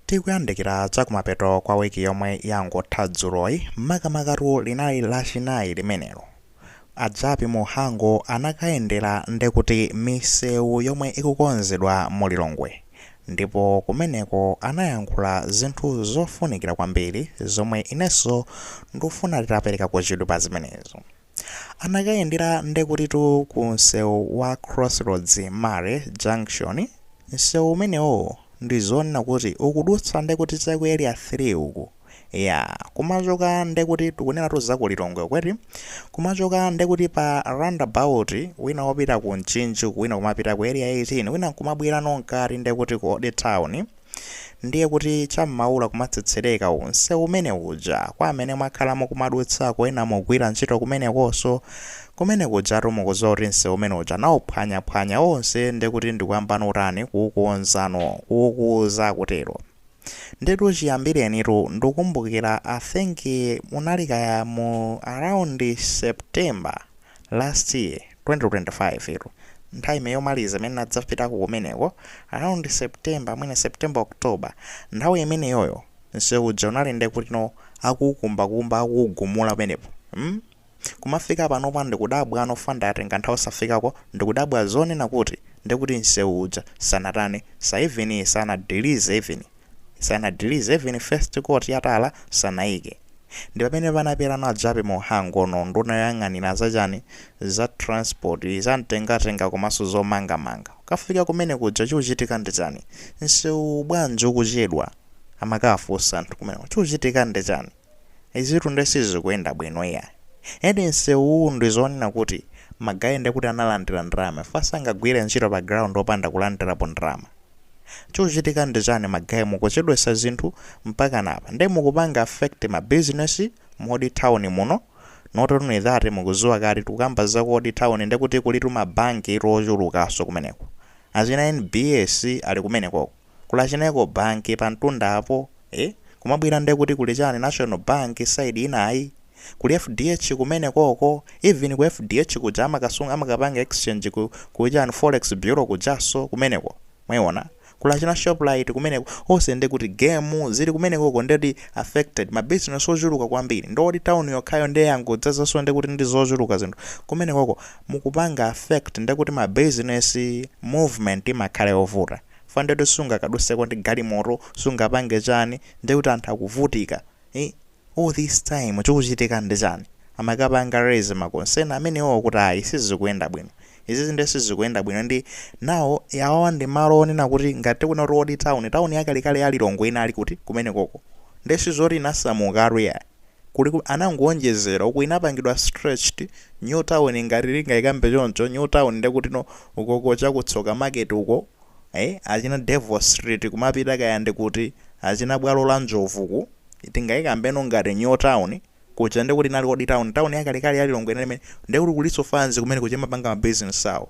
Tikuyandikira chakumapeto kwa week yomwe yangotha dzuloyi, makamakatu linali lachinayi limenelo. A Jappie Mhango anakayendera ndekuti misewu yomwe ikukonzedwa mu Lilongwe ndipo kumeneko anayankhula zinthu zofunikira kwambiri zomwe inenso ndufuna titaperekako chidwi pa zimenezo. anakayendera ndekutitu ku msewu wa crossroads murray junction msewu umenewowo ndizonena kuti ukudutsa ndekuti cha ku area 3 uku yaa kumachoka ndekuti tikunenatu za ku lilongwe uku eti kumachoka ndekuti pa roundabout wina wopita ku mchinji uku wina kumapita ku area 18 wina nkumabwerano mkati ndekuti ku old town Ndiye kuti cha m'maula kumatsetsereka nsewu umene uja kwa amene mwakhala mukumadutsako ena mugwira ntchito kumenekonso kumene kujatu mukudziwa kuti msewu umene uja anauphwanyaphwanya onse ndi kuti ndikuyambano utani kuukonzano kuukuza kutero ndetu chiyambirenitu ndukumbukira i think munali kaya mu around september last year 2025 tu nthawi yomaliza imene nadzapitako kumeneko around September mwina September October nthawi imeneyoyo msewu uja unali nde kuti no akuukumbakumba akuugumula penepo mm? kumafika panopa ndikudabwa no for munthu atenga nthawi osafikako ndikudabwa zonena kuti ndekuti msewu uja sanatani even sanadilize even Sanadilize even first coat ya tala sanaike. Ndipamene panapita a Jappie Mhango no nduna yoyang'anila za chani? Za transport, za mtengatenga komanso zomanga manga. Kukafika kumene kuja chuchitika ndi chani? Nsewuwu bwanji ukuchedwa? Amakafunsa anthu kumeneko. Chuchitika ndi chani? Izitu nde sizikuyenda bwino iyayi. Eti nsewuwu ndi zonena kuti ma guy nde kuti analandira ndalama chifukwa sangagwire ntchito pa ground opanda kulandirapo ndalama. Chikuchitika ndi chani ma guy mukuchedwetsa zinthu mpakana apa nde mukupanga affect ma business mu Old Town muno not only that mukuziwa kuti tikukamba za ku Old Town nde kuti kulitu ma bank tu ochulukaso kumeneko. Achina NBS ali kumenekoko. kuli achina Ecobank pantunda apo eh kumabwera ndekuti kuli chani national bank side inayi kuli fdh kumene koko even ku fdh kuja amakasunga amakapanga exchange ku kuchani forex bureau kujaso kumeneko mwaiona kuli achina shoprite kumeneko ose ndekuti game zili kumenekoko ndeti affected ma business ochuluka kwambiri ndi old town yokhayo nde yangodzazaso ndekuti ndi zochuluka zinthu kumenekoko mukupanga affect ndekuti ma business movement imakhala yovuta chifukwa ndiye kuti sungakaduseko ndi galimoto, sungapange chani, ndiye kuti anthu akuvutika, ii, all this time chikuchitika ndi chani? Amakapanga raise ma concern amenewowo kuti ayi sizikuyenda bwino, izizi ndiye sizikuyenda bwino ndi now yawa ndi malo onena kuti ngati tikunena kuti old town, town yakalekale ya Lilongwe inali kuti? Kumenekoko, ndiye sizoti inasamukatu iyayi. kuli anangowonjezera uku inapangidwa stretched new town ngati tingaikambe choncho new town ndekutino ukoko cha ku tsoka market uko achina devil street kumapita kaya ndi kuti achina bwalo la njovu ku tingaikambeno ngati new town kuja ndekuti inali old town town yakalekale ya lilongwe inali imene ndekuti kulinso fanzi kumene kuja imapanga ma business awo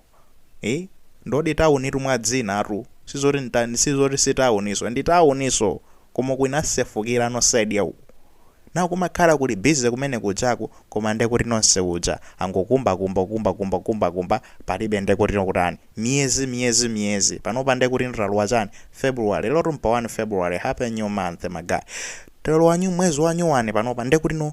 Eeh ndi old tawunitu mwa dzina tu sizoti ntani sizoti si tawuniso ndi tawuniso koma uku inasefukira no side ya uku now kumakhala kuli busy kumene kujaku koma nde kuti nonse kuja angokumbakumba kukumbakumba kukumbakumba palibe nde kuti kutani miyezi miyezi miyezi panopa nde kuti talowa chani February lero mpa 1 February happy new month ma guy talowa nyu mwezi wa nyuwani panopa nde kuti no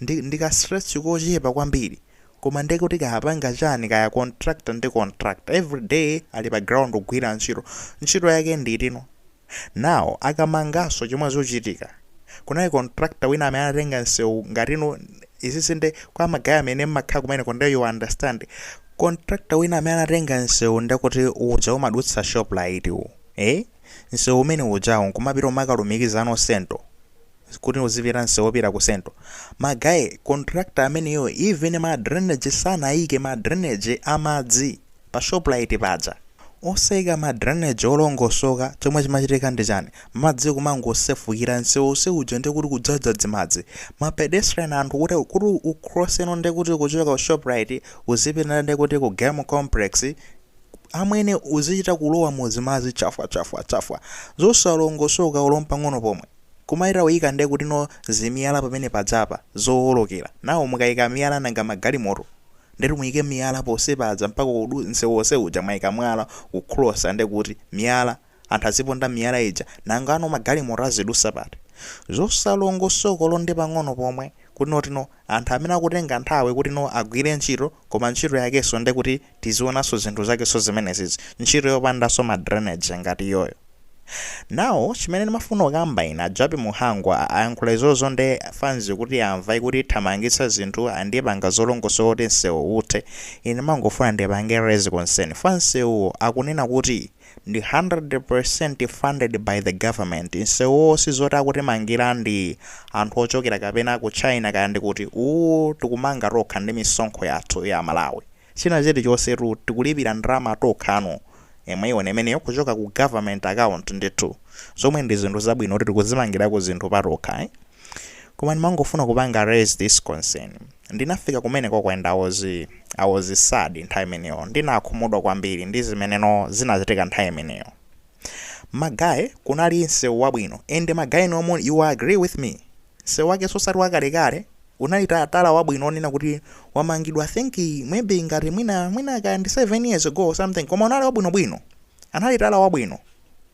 ndi ndi ka stretch kochepa kwambiri koma nde kuti kaya apanga chani kaya contractor ndi contractor every day ali pa ground kugwira ntchito ntchito yake nditino now akamanganso chomwe zochitika kunali contractor wina amene anatenga msewu ngatino izizi nde kwa magaya amene mmakhala kumeneko nde you understand contractor wina amene anatenga msewu nde kuti uja umadutsa Shoprite u eh msewu umene ujawo nkumapita umakalumikiza no sento kuti uzipita nsewu opita ku sento ma guy contractor ameneyo even ma drainage sanaike ma drainage a madzi pa shoprite paja osaika ma drainage olongosoka chomwe chimachitika ndi chani madzi kumangosefukira nsewu onse uja ndi kuti kudzadza dzimadzi ma pedestrian anthu kuti kuti u cross no ndi kuti kuchoka ku shoprite uzipita ndi kuti ku game complex amwene uzichita kulowa mu zimadzi chafwa chafwa chafwa zosalongosoka olo mpang'ono pomwe Kumaika uyika nde kutino zimiyala pamene pajapa zowolokera now mukayika miyala nanga magalimoto ndetu muyike miyala ponse paja mpaka kudu nsewu onse uja mwayika mwala ku crosser nde kuti miyala anthu aziponda miyala ija nangano magalimoto azidusa pati zosalongosoka olo ndi pang'ono pomwe kutino ndi anthu amene akutenga nthawi kutino agwire ntchito koma ntchito yakeso nde kuti tizionaso zinthu zakeso zimenezizi ntchito yopandaso ma drainage ngati iyoyo now chimene ndimafuna kukamba ine a Jappie Mhango a- ayankhula izozo nde fans kuti amva kuti ithamangitsa zinthu andipanga zolongosoka kuti nsewu uthe ine ndimangofuna ndipange raise concern fa nsewuwo akunena kuti ndi 100% funded by the government, nsewuwo sizoti akutimangila ndi anthu ochokera kapena ku China kaya ndi kuti, uwu tikumanga tokha ndi misonkho yathu ya Malawi. China chilichonsetu tikulipira ndalama tokhano, mwaiona imeneyo kuchoka ku government account ndithu, zomwe ndi zinthu zabwino kuti tikuzimangilako zinthu patokha. Koma ndimangofuna kupanga raise this concern. Ndinafika kumenekoko and I was, I was sad nthawi imeneyo. Ndinakhumudwa kwambiri ndi zimeneno zinachitika nthawi imeneyo. Ma guy kunali msewu wabwino and ma guy no you will agree with me. Msewu wake sosati wakalekale unali ta- tala wabwino onena kuti wamangidwa I think maybe ngati mwina mwina kaya ndi 7 years ago or something koma unali wabwinobwino. Anali tala wabwino.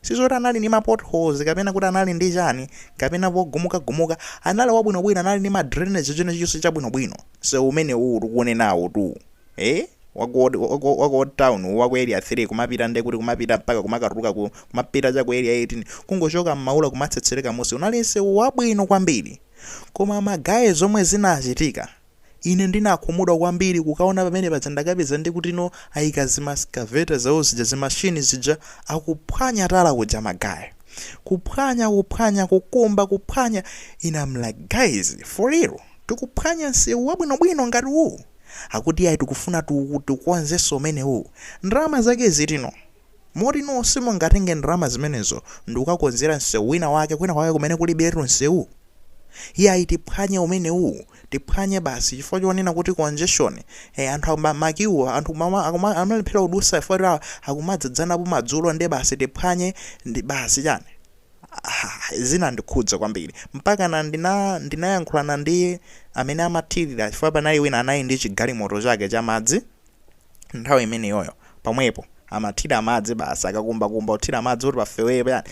Sizoti anali ndi ma potholes kapena kuti anali ndi chani kapena pogumukagumuka, anali wabwinobwino anali ndi ma drainage chilichonse chabwinobwino msewu umenewu tikuunenawutu ee wa ku old wa ku old town uwu wa ku area 3 kumapita nde kuti kumapita mpaka kumakatuluka ku kumapita cha ku area 18 kungochoka m'maula kumatsetsereka m'munsi unali msewu wabwino kwambiri koma ma guy zomwe zinachitika Ine ndinakhumudwa kwambiri kukaona pamene paja ndakapeza ndi kutino aika zima excavator zawo zija zimashini zija akuphwanya tala uja ma guy. Kuphwanya kuphwanya kukumba kuphwanya ine I'm like guys for real tikuphwanya nsewu wabwinobwino ngati uwu? Akuti iyayi tikufuna tiuku tiukonzenso umenewu. Ndalama zake zitino? Moti inuyo simungatenge ndalama zimenezo ndikukakonzera nsewu wina wake kwina kwake kumene kulibiretu nsewu? Iyayi tiphwanye umenewu. tiphwanye basi chifukwa chonena kuti congestion eh, anthu akuma- makiwo anthu kumama- akuma- amalephera kudusa chifukwa choti a- akumadzadzanapo madzulo nde basi tiphwanye ndi basi chani Ah, zinandikhudza kwambiri mpakana ndina ndinayankhulana ndi amene amathirira chifukwa panali wina anali ndi chigalimoto chake cha madzi nthawi imeneyoyo pomwepo amathira madzi basi akakumbakumba kuthira madzi kuti pafewere payani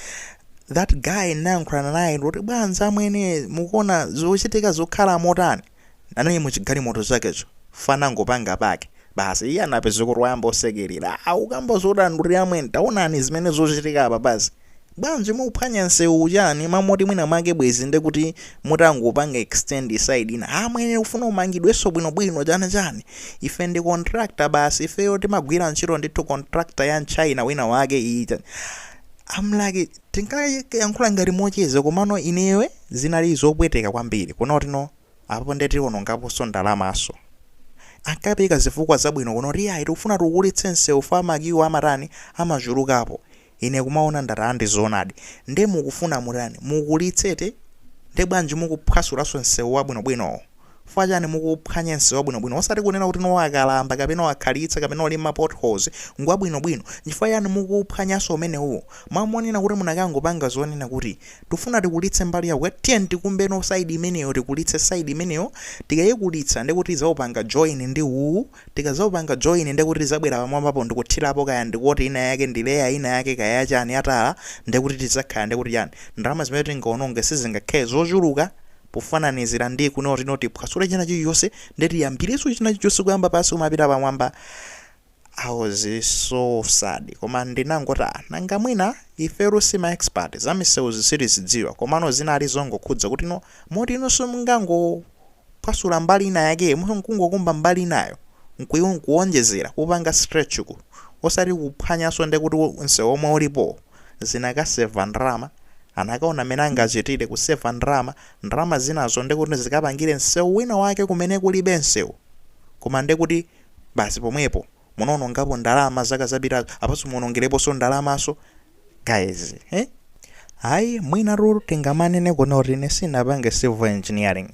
that guy nayankhulana naye kuti bwanji amwene mukuona zochitika zokhala motani anali muchigalimoto chakecho fana anangopanga pake basi iye anapeza kuti wayamba osekerera akukamba zodandaula amwene taonani zimene zochitika apa basi Bwanji mukuphwanya nsewu chani ma moti mwina mwake bwezi nde kuti mutangopanga extend side ina ha amwene tikufuna umangidwenso bwino bwino chani chani ife ndi contractor basi ifeyo timagwira ntchito ndithu contractor ya mchina wina wake ii chani I'm like tinkayankhula ngati mocheza komano ineyo eh, zinali zopweteka kwambiri kuona kuti no apo nde tionongaponso ndalamanso ankapeka zifukwa zabwino kunena kuti iyayi tikufuna tikulitse nsewu fukwa makiwo amatani amachulukapo Ine kumawona ndati a ndi zoonadi nde mukufuna mutani mukulitse eti nde bwanji mukuphwasulaso nsewu wabwino bwinowo fukwa chani mukuuphwanya nsewu wabwino bwino osati kunena kuti no wakalamba kapena wakhalitsa kapena uli mma potholes ngwabwino bwino nchifukwa chani mukuuphwanyaso umenewuwo mwa monena kuti munakangopanga zonena kuti tikufuna tikulitse mbali ya ku tiyeni tikumbeno side imeneyo tikulitse side imeneyo tikaikulitsa ndekuti tizaupanga join ndi uwu Tikazawupanga join ndekuti tizabwera pamwambapo ndikuthilapo kaya ndi coat ina yake ndi layer ina yake kaya ya chani ya tala ndekuti tizakhala ndekuti chani ndalama zimene tingawononge sizingakhale zochuluka pofananizira ndi kunena kuti no tiphwasule china chilichonse nde tiyambirenso china chilichonse kuyamba pansi kumapita pamwamba I was so sad koma ndinangoti ah nanga mwina ifeyo si ma expert zamisewuzi sitizidziwa komano zinali zongokhudza kuti no moti inonso mungango kuphwasula mbali ina yakeyo mwina nkungokumba mbali inayo nkuiwo nkuwonjezera kupanga stretch uku osati kuphwanyanso ndekuti nsewu omwe ulipowo zinakaseva ndalama anakaona mmene angachitire kuseva ndalama ndalama zinazo ndekuti zikapangire nsewu wina wake kumene kulibe nsewu koma ndekuti basi pomwepo munaonongapo ndalama zaka zapitazo apaso muonongereposo ndalamaso guys eh? hayi mwina ruru tingomanena kunena kuti ine sinapange civil engineering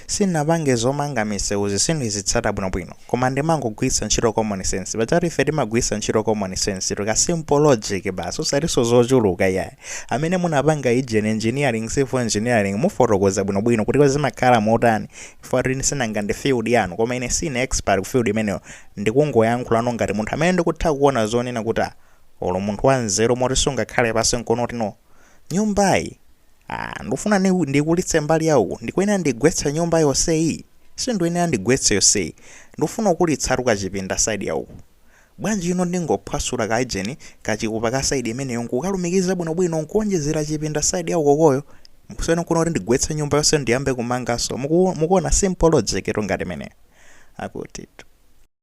sinapange zomanga misewuzi sindizitsata bwinobwino koma ndimangogwiritsa ntchito common sense paja ati ife timagwiritsa ntchito common sense tika simple logic basi osatiso zochuluka yayi amene munapanga ijeni engineering civil engineering mufotokoza bwinobwino kuti zimakhala motani ife atini sinanga ndi field yanu koma ine sine expert ku field imeneyo Ndikungoyankhulano ngati munthu amene ndikutha kuona zonena kuti ah olo munthu wanzeru moti sungakhale pansi nkunoti no. Nyumbayi ah ndikufuna ni ndiikulitse mbali ya uku ndikuyenera ndigwetse nyumba yonseyi? Sinduyenera ndigwetse yonseyi. Ndikufuna kukulitsatu kachipinda side ya uku. Bwanji ine ndingophwasula ka ijeni, kachipupa ka side imeneyo nkukalumikiza bwinobwino nkuonjezera chipinda side ya ukokoyo? Kusiyana nkunoti ndigwetse nyumba yonse ndiyambe kumanganso. Muku mukuona simple logic tu ngati imeneyo? Akutitu.